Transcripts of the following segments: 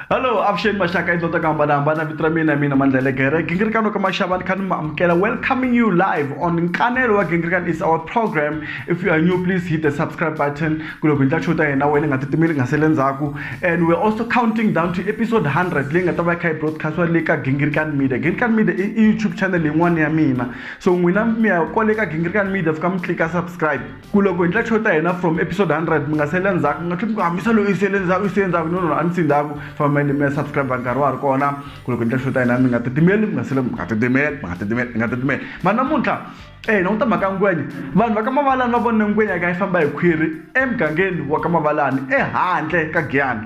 Hello, avuxeni maxaka endlo ta ku hambanahambana vito ra mina mina mandlele gere gingirikano ka maxava ni kha ni mi amukela welcoming you live on nkanelo wa gingirikano is our program if you are new please hit the subscribe button ku loko hi ndla show ta hina wena nga titimeli nga sele ndzhaku and we're also counting down to episode 100 leyi nga ta va kha yi broadcastiwa le ka gingirikano media gingirikano media i youtube channel yin'wana ya mina so n'wina mi ya kwale ka gingirikano media fika mi tlika subscribe ku loko hi ndla show ta hina from episode 100 mi nga sele ndzhaku mi nga tlheli mi ku hamisa loyi yi sele ndzhaku yi sele ndzhaku no no a ni si ndzhaku fambeni mi ya subscribe nkarhi wa ha ri kona ku loko hi ndla show ta hina mi nga titimeli mi nga sele mi nga titimeli mi nga titimeli mi nga titimeli ma namuntlha eh na uta mhaka ngwenya vanhu va ka mavalani va vone ngwenya ka yi famba hi khwiri emugangeni wa ka mavalani ehandle ka giyani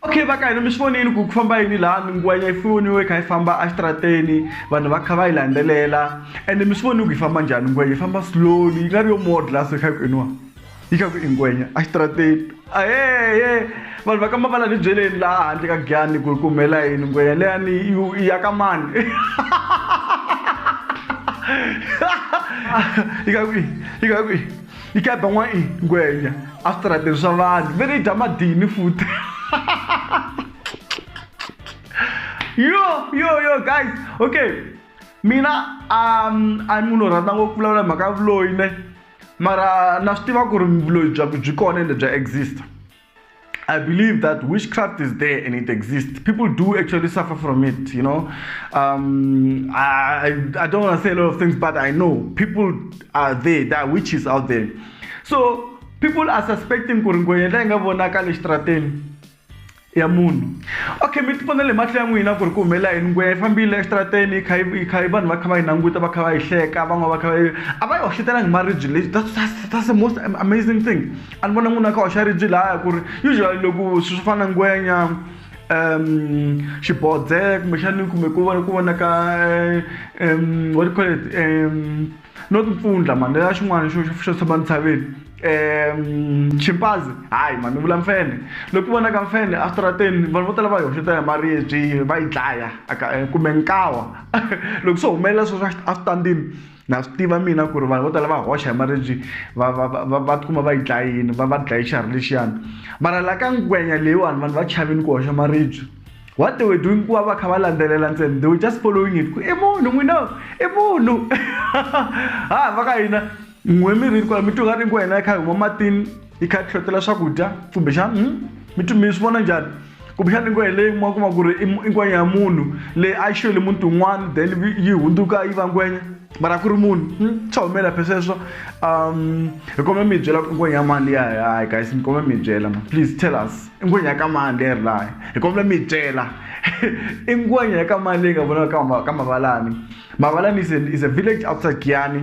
okay va ka hina mi swi vonile ku ku famba yini laha minguwanya yi foniwe yi kha yi famba exitarateni vanhu va kha va yi landzelela ende mi swi vonile ku yi famba njhani ngwenya yi famba slowly yi nga ri yo modla so yi kha yi ku iniwa yi kha ku i ngwenya exitarateni ayeye vanhu va ka mavala ni byeleni laha handle ka gyani ku ku humela yini ngwenya leyani i ya ka mani yi kha kwihi yi kha kwihi yi ka ba n'wa i ngwenya a switarateni swa vanhu ve ni dya madini futi yo yo yo guys okay mina um a ni munhu rhandza ngopfu vulavula hi mhaka ya vuloyi ne mara na swi tiva ku ri vuloyi bya ku byi kona ende bya exista I believe that witchcraft is there and it exists. People do actually suffer from it, you know. Um, I, I don't want to say a lot of things, but I know people are there, there are witches out there. So people are suspecting ku ri ngwenya leyi nga vonaka le xitrateni ya munhu okay mi tipona le mahlo ya n'wina ku ri ku humelela yini ngweya yi fambile exitrateni kha yi kha yi vanhu va kha va yi languta va kha va yi hleka van'wana va kha va yi a va yi hoxetelangi maribye lexi that's, that's, that's the most amazing thing a ni vona n'wina kha hoxa ribyi laya ku ri usually loko swi swo fana na ngwenya um xibodze kumbexani kumbe ku vona ku vona ka um what do you call it um not mpfundla mani leya xin'wana xo xo tshama ntshaveni um chimpazi hayi mani vula mfene loko vona ka mfene astrateni vanhu vo tala va yi hoxeta hi maribyi va yi dlaya kumbe nkawa loko swo humelela swo swa astandini na swi tiva mina ku ri vanhu vo tala va hoxa hi maribyi va va va va tikuma va yi dlayini va va dlaye xiharhi lexiyani mara la ka ngwenya leyiwani vanhu va chavini ku hoxa maribyi what they were doing ku va va kha va landzelela ntsena they were just following it ku i munhu n'wina i munhu ha va ka hina n'we mi ri kwala mi twa nga ri ngwenya yi kha yi huma matini yi kha yi tlhotela swakudya kumbexana hmm? mi tu mi swi vona njhani kumbexana ingo hi leyi kuma kuma ku ri i ngwenya ya munhu leyi a yi xiyeli muti un'wana then yi hundzuka yi va ngwenya mara ku ri munhu hmm? swa humelela phe sweswo um hi kome mi byela ku ngwenya ya mani liya hayi guys mi kome mi byela ma please tell us i ngwenya ya ka mani leyi ri laha hi komela mi byela i ngwenya ya ka mani leyi nga vonaka ka mavalani mavalani is a village outside giyani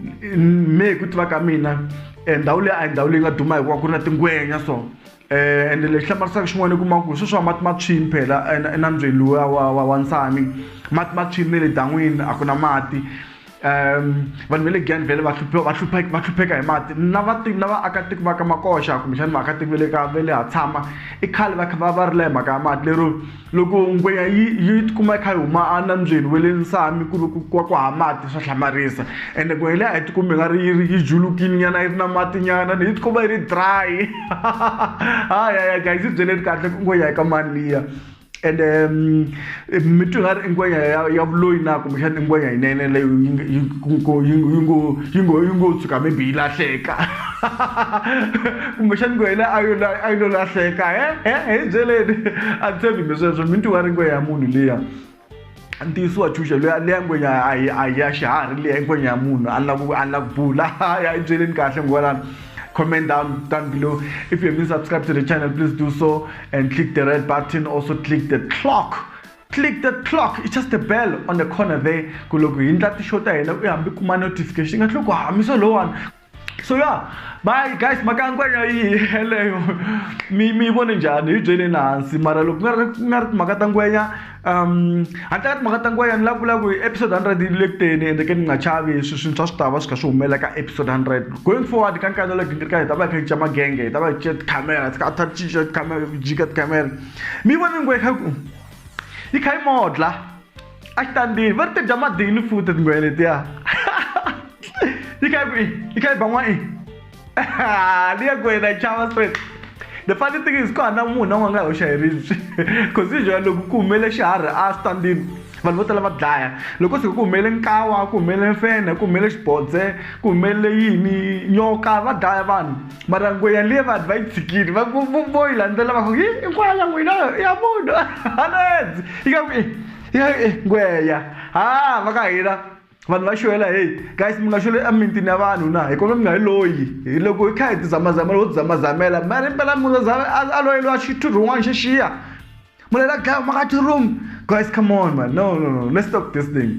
me hi ku tiva ka mina eh, ndhawu leyi a hi ndhawu leyi nga duma hikuva ku ri na tingwenya so um ende lexi hlamarisaka xin'wana i kuma ku sweswi wa mati ma tshwini phela enambyeni luwa wa wa nsami mati ma tshwini ne le dan'wini a ku na mati um vanhu va le gan vele va hlupheka hi mati na vativi na vaakatiko va ka makoxa kumbexani vaakatiko va le ka va le ha tshama i khale va kha va va ri la hi mhaka ya mati lero Loko ngweya yi yi ti kuma yi kha yi huma a nambyeni wa le Nsami ku ri ku ku ku hava mati swa hlamarisa ende ngwehe liya a yi ti kumi nga ri yi ri yi julukile nyana yi ri na mati nyana yi ti kuma yi ri dry hayi guys yi byele kahle ku ngweya yi ka mani liya ende mi twa nga ri i ngwenya ya ya vuloyi na kumbexana i ngwenya yinene leyo yi yi yi ngo yi ngo yi ngo tshuka maybe yi lahleka. kumbexani ngwehe le a yo a yi lo lahleka he he hi byeleni a ni tshembi mi sweswo mi ntiwa ri ngwehe ya munhu liya ntiyiso wa chuxa loyi leya ngwenya a ya xiharhi leya ngwenya ya munhu a ni lava ku a ni lava ku bula ya yi byeleni kahle ngwalana comment down down below if you haven't subscribed to the channel please do so and click the red button also click the clock click the clock it's just the bell on the corner there ku loko hi ndla tixo ta hina u hambi kuma notification yi nga tlhe ku hamisa lowani so ya bayi guys mhaka nkwenya yi yeleyo mi mi vone njhani hi byeleni hansi mara loko ku nga ri ku nga ri timhaka ta ngwenya um handle ka timhaka ta ngwenya ni lava ku lava ku hi episode hundred yi le ku teni ende ke ni nga chavi swi swintshwa swi ta va swi kha swi humelela ka episode hundred going forward ka nkarhi lowu gingirika hi ta va hi kha hi cinca magenge hi ta va hi cinca tikhamera ti kha ta cinca tikhamera jika tikhamera mi vone ngwe kha ku yi kha yi modla Ek dan die, wat het jammer die nu voet het ngoe dit ja. Die kyk wie, die kyk bangwa i. Die ek goe na chawa straight. The funny thing is kwa na mu na wanga ho shayirizi. Cause usually loko ku humele xiharhi a standini vanhu vo tala va dlaya loko se ku humele nkawa ku humele mfene ku humele xibodze ku humele yini nyoka va dlaya vanhu mara ngwe yaliya vanhu va yi tshikile va ku vo- vo yi landzela va ku hi inkwala n'wina i ya munhu hanedzi yi ka ku "Eh, ya eh, ngweya ha va ka hina vanhu va xwela heyi guys mi nga xweli emimitini ya vanhu na hi kona mi nga yi loyi Hi loko hi kha hi tizamazamela ho tizamazamela mara impela munhu a zame- a- a loyeliwa xithu rin'wana xi xiya munhu la dlaya maka ti-room guys come on man no no no let's stop this thing